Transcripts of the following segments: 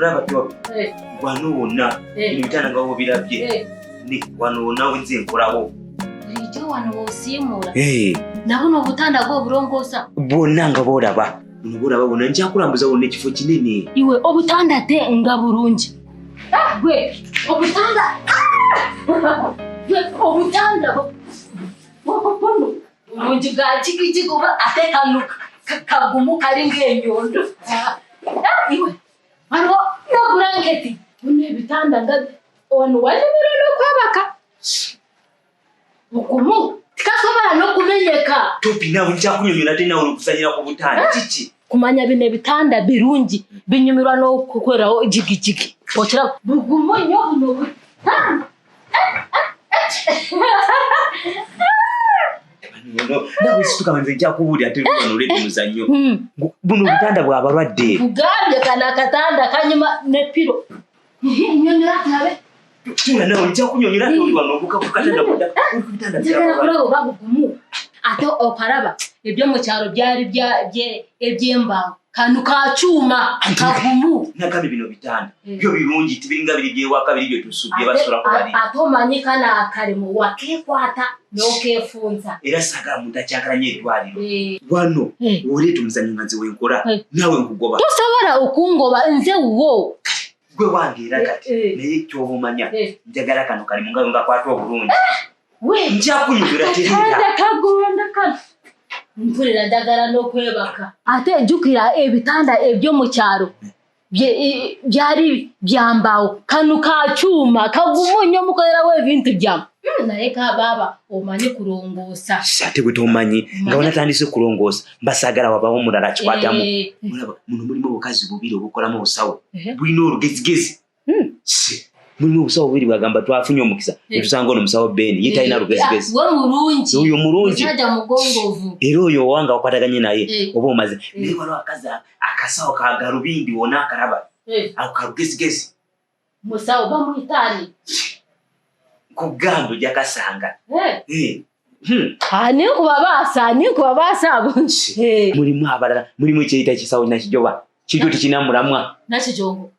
tulaba tuwa eh. wano wonna eh. ebitanda nga wobirabye eh. wano wonna wenze nkolawo bulijjo wano wosiimuula nabuno obutanda gwo obulongoosa bwonna nga bwolaba bwolaba bwonna njakulambuza wonna ekifo kinene iwe obutanda te nga bulungi Gwe obutanda gwe obutanda bwokokono bulungi bwa jigijigi oba ate kano kagumu kali ng'enyondo iwe waliwo n'obulanketi bino ebitanda nga wano wali mulolo kwabaka mugumu tikasobola n'okumenyeka topi nawe nkyakunyonyola te nawe okusanyira ku butanda eh? kiki kumanya bino ebitanda birungi binyumirwa n'okukolerawo jigijigi okira bugumu nnyo buno butanda nawe situka nze nja kubuulira te luwano oledi muzannyo hmm. buno obutanda bwa balwadde kugambye kana akatanda kanyuma ne piro Nyonyola tawe. Tuna nawe nja kunyonyola ate oli wano obuka kukatanda kuda. Kukatanda kuda. Njagala kulaba oba bugumu. Ate okalaba ebyo mu kyalo byali bya ebyembaawo. Kano ka kyuma kagumu. Nagambye bino bitanda. Eh. Byo birungi tibiringa biri byewaka biri bye tusubye basula ku bali. Ate omanyi kana akalimu wakekwata. nokefunza era sagala muntu akyagala nyo eddwaliro eh. wano eh. woleeta omuzanyo nga nze wenkola eh. nawe nkugoba tosobola okungoba nze wo gwe wange era kati naye kyoba omanya njagala kano kali mungayo nga kwata obulungi njakunyumira teekagonda kano mpulira njagala n'okwebaka ate jukira ebitanda ebyo mu kyalo byali byambawo kano kakyuma kagumu nnyo mukolerawo ebintu byamu hmm, naye kabaaba omanyi kulongoosa sate bwe tomanyi nga wanatandise kulongoosa mbasaagala wabawo mulala kikwatamu eh. olaba muno mulimu obukazi bubiri obukolamu obusawo eh. bulina olugezigezi hmm. mulimu obusawo bubiri bwagamba twafunye omukisa eh. etusanga ono musawo ben ye talina lugezigezioyo mulungi era oyo owanga wakwataganye naye oba omaze naye waliwo akazi akasawo ka galubindi wona akalaba eh. ako kalugezigezi musawo bamuyitaani kugamba jakasanga eh. eh. hmm. ani nkubabaasa ani nkubabaasa abo mulimu abalala mulimu ekyeyita ekisawo nakijoba kiryo tikinamulamwa nakijongo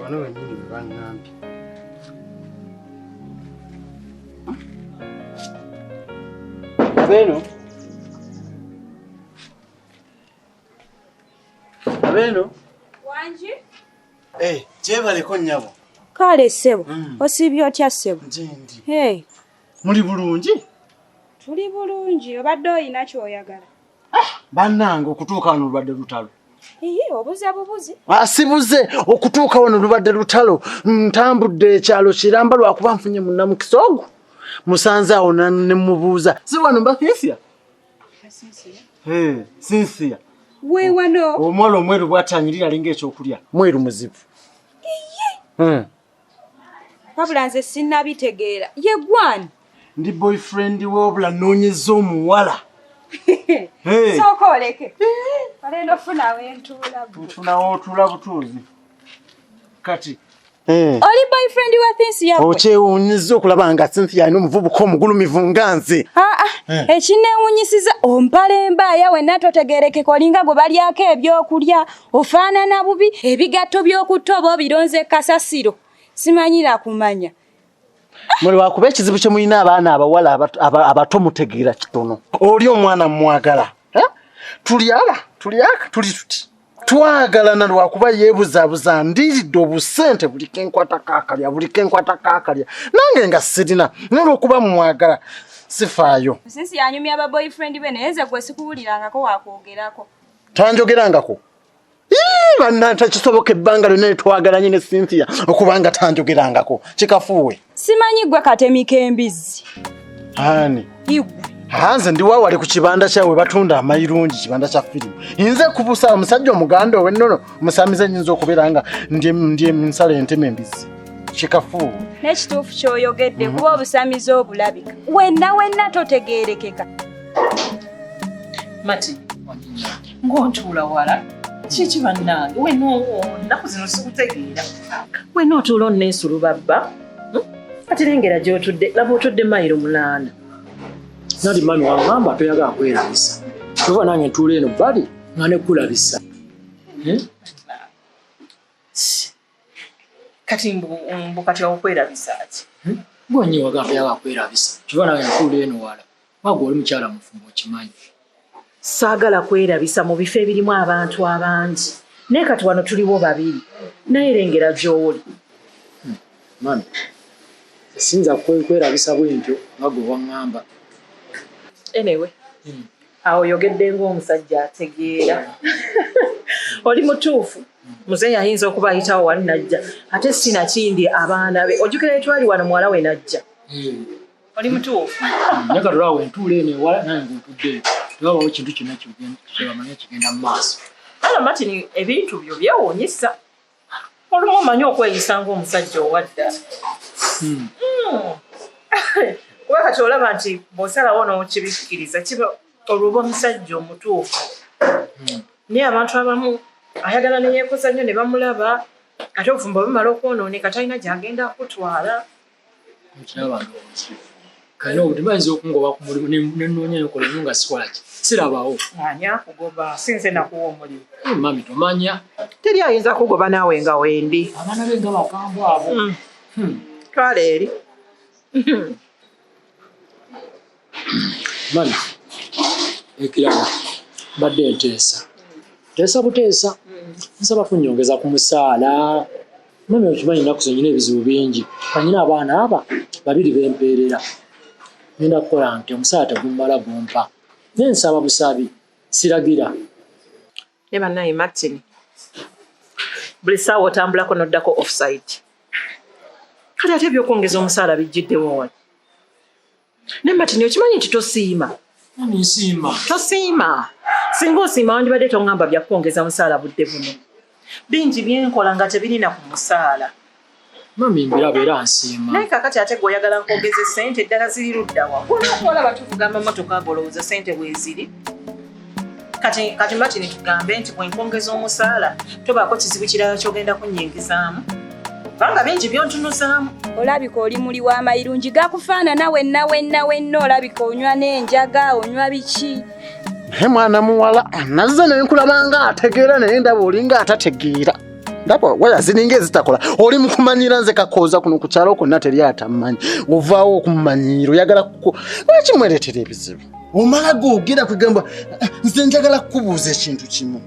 wano wenyini bangambye abeno abeno wangi eh, gyebaleko nyabo kale sebo mm. osibye otya sebo gyendi muli bulungi tuli bulungi obadde olina kyoyagala ah, bannange okutuuka wano lubadde lutalo obuze bubuzi ah, sibuze okutuuka wano lubadde lutalo ntambudde ekyalo kiramba lwakuba nfunye munamukisa ogwo musanze awo nemubuuza si wano mba sinsiya sinsiya wewano omwana omweru bwatanyirira alinga ekyokulya mweru muzibu wabula nze sinnabitegeera ye gwani ndi boyfriend we wabula nnoonyeza omuwala sooka oleke olenda ofunawo entuula nfunawo otuula butuuzi kati eh. oli boyfriend wa thinsi yabwe okyewuunyiza okulaba nga cynthia alina omuvubuka omugulumivu nga nze ah, ah. Eh. ekinneewuunyisiza ompala embaaya wenna totegeerekeka olinga gwe balyako ebyokulya ofaanana bubi ebigatto by'okutta oba obironze kasasiro simanyira kumanya muli wakuba ekizibu kye mulina abaana abawala abato mutegeera kitono oli omwana mumwagala tulyala tulyaka tuli tuti twagalana lwakuba yebuzabuza ndiridde obusente buli kenkwata kakalya buli kenkwata kakalya nange nga sirina nolwokuba mumwagala sifaayo sinsi yanyumya ba boyfriend be naye nze gwe sikuwulirangako wakwogerako tanjogerangako banna takisoboka ebbanga lyonna netwagalanye ne cynthia okubanga tanjogerangako kikafuuwe simanyi gwe katemika embizzi ani hanze ndi wawali ku kibanda kyawe batunda amayirungi kibanda kya firimu inze kubusa omusajja omuganda owennono omusamize nyinza okubeera nga ndye nsala entema embizzi kikafuuwe nekituufu kyoyogedde kuba obusamize obulabika wenna wenna totegerekeka mati ng'otuula wala kiki bannange wena nnaku zino sikutegeera wena otuula onneesulu babba hmm? kati lengera gy'otudde laba otudde mayiro munaana nali mami wangamba toyagala kwerabisa oba nange ntuula eno bali nga nekulabisa hmm? kati mbu kati okwerabisa ki hmm? gwenyiwagamba toyagala kwerabisa kiba nange ntuula eno wala Wagwa oli mukyala mufumbo okimanyi. Saagala kwerabisa mu bifo ebirimu abantu abangi naye kati wano tuliwo babiri naye lengera gy'oli. Hmm, mami, sinza kwerabisa bwentyo nga gwe waŋŋamba. Anyway, hmm. awo oyogedde ng'omusajja ategeera. Oli mutuufu. Muze yayinza okuba ayitawo wali najja ate sinakindi abaana be ojukira etwali wano muwala we najja. Hmm. oli mutuufu nyaga lwawo entuula eno ewala naye ngaotudde tewabawo kintu kyonna kyebamanya kigenda mu maaso ala martin ebintu byo byewunyisa olumu omanyi okweyisa ngaomusajja owadda hmm. hmm. kuba kati olaba nti bwosalawo nokibikkiriza kiba olwoba omusajja omutuufu hmm. naye abantu abamu ayagala neyekoza nnyo ne bamulaba ate obufumbo bumala okwonooneka talina gyagenda kutwala okiraba ndowoza kale obuti bayinza okungoba ku mulimu nenoonya nokolamu nga sikolaki sirabawo ani akugoba sinze nakuwa omulimu eh, mami tomanya teri ayinza kugoba naawe nga wendi abaana be nga bakambwa abo hmm. Hmm. twala eri hmm. mani ekirala badde enteesa teesa buteesa nsaba kunyongeza ku musaala mami okimanyi ennaku zenyina ebizibu bingi anyina abaana aba babiri bempeerera nenda kukola nti omusaala tegumala gumpa naye nsaba busabi siragira naye banaye martin buli saawa otambulako noddako offside kale ate ebyokwongeza omusaala bijjiddewo wali naye martin okimanyi nti tosiima tosiima singa osiima wandibadde tongamba byakwongeza musaala budde buno bingi byenkola nga tebirina ku musaala mami mbiraba era nsiima naye kakati ate gwe oyagala nkwogeza esente eddala ziri luddawa olwokuolaba tuvugamba motoka ago olowooza sente bweziri kati kati matini tugambe nti bwenkwongeza omusaala tobaako kizibu kirala kyogenda kunyingizaamu kubanga bingi byontunuzaamu olabika oli muli w'amayirungi gakufaanana wenna wenna wenna olabika onywa n'enjaga onywa biki naye mwana muwala nazze nenkulaba nga ategeera naye ndaba olinga atategeera ndaba waya ziringa ezitakola oli mukumanyira nze kakooza kuno ku kyalo konna teri atamumanyi ovaawo okumumanyira oyagala kuko lwaki mwereetera ebizibu omala googera kwegamba eh, nze njagala kukubuuza ekintu kimu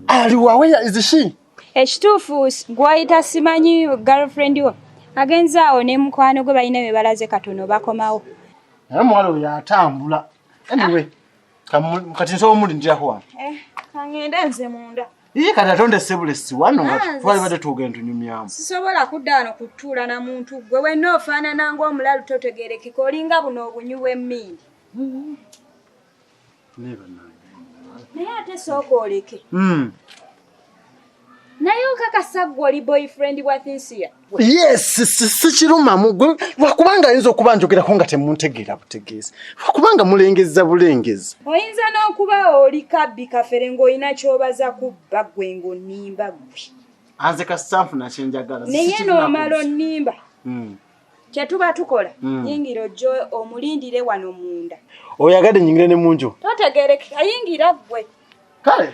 aliwaweya izishi ekituufu gwayita simanyi girlfriend wo agenze awo ne mukwano gwe balina bye balaze katono bakomawo naye omuwala oyo atambula anyway kati nsobola omulindiraho wano eh, kangende nze munda Ii kati atonde sebulesi wano nga twali bade twogere ntunyumyamu. Sisobola kudda wano kutuula na muntu gwe wenna ofaanana ng'omulalu totegerekeka olinga buno obunyu bw'emmindi. Naye ate sooka oleke. Hmm. Naye okakasa ggwe oli boyfriend bwa Thinsia? yes sikirumamu gwe lwakubanga ayinza okuba njogerako nga temuntegeera butegeezi lwakubanga mulengeza bulengezi oyinza n'okuba oli kabbi kafere ng'olina kyobaza kubba gwe ng'onimba gwe anze kasitanfu nakyenjagala naye n'omala onimba hmm. kyetuba tukola hmm. yingira ojja omulindire wano munda oyagadde nyingire ne munju totegereke ayingira gwe kale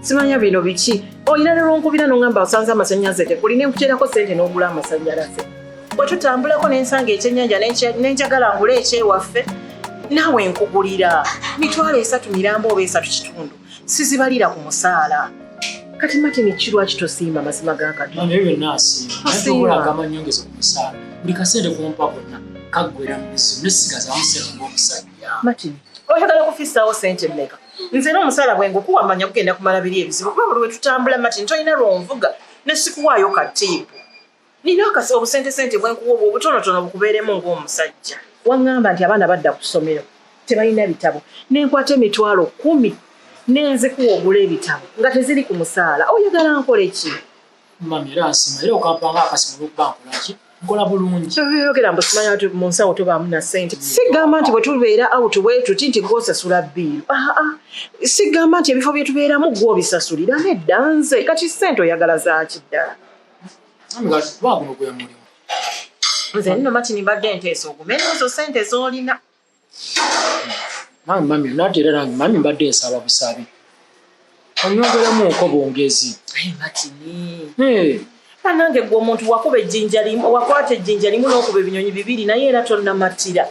simanya bino biki olina ne lwonkubira nongamba osanze amasannyalaze tekuli nenkuterako sente n'ogula amasannyalaze bwe tutambulako nensanga ekyennyanja nenjagala ngula ekyewaffe naawe nkugulira mitwalo esatu mirambo oba esatu kitundu sizibalira ku musaala kati matini ki lwaki tosiima mazima ga katondaoli kasente kumpa gonna kaggwera mumizimu nesigazamusera ngaomusajja matini oyagala kufisawo sente meka nze era omusaala bwe ngukuwa manya kugenda kumala biri ebizibu kuba buli wetutambula mati ntolina lwonvuga nesikuwaayo katiipu nina akasi obusentesente bwenkuwa obwo obutonotono bukubeeremu ng'omusajja waŋŋamba nti abaana badda ku ssomero tebalina bitabo nenkwata emitwalo kumi nenzikuwa ogula ebitabo nga teziri ku musaala oyagala nkoleki mami era nsima era okampa nga akasima olwokuba nkolaki nkola bulungi yogera mbu simanyi ati mu nsawo tobaamu na sente sigamba nti bwetubeera out bwetuti nti gwosasula biiru aa ah, ah. sigamba nti ebifo byetubeeramu gwobisasulira nedda nze kati sente oyagala zaaki ddala nze nno matini mbadde nteesa ogume nezo sente zolina nange mami nate era nange mami mbadde nsaba busabi onyongeramuko bwongezi nange gwe omuntu wakuba ejjinja limu wakwata ejjinja limu n'okuba ebinyonyi bibiri naye era tonnamattira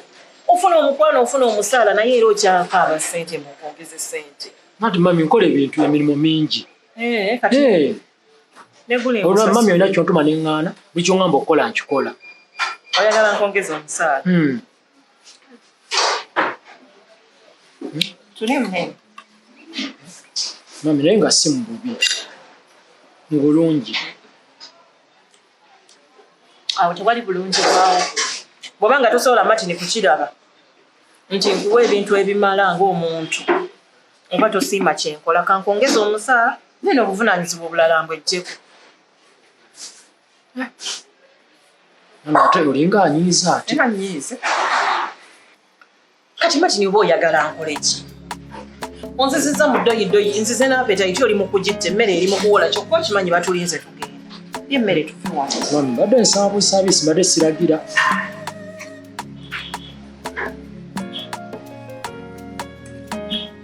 ofuna omukwano ofuna omusaala naye era okyakaaba sente mukwongeze sente nati mami nkola ebintu emirimu mingi eh, eh. olwa mami olina kyontuma neŋŋaana buli kyoŋamba okukola nkikola oyagala nkwongeza omusaala hmm. mami naye nga si mububi mu bulungi awo tewali bulungi bwawo bwoba nga tosobola matini kukiraba nti nkuwa ebintu ebimala ngaomuntu oba tosiima kyenkola kankwongeza omusaa nene obuvunanyizibwa obulala mbwejjeku ate olinga anyiiza ate anyiize kati matini oba oyagala nkole ki onziziza mu ddoyi ddoyi nzize n'apetayiti oli mu kugitta emmere eri mu kuwola kyokka okimanyi batulinze tugenda ye emmere tufuwa mbadde nsaabusaabisi mbadde siragira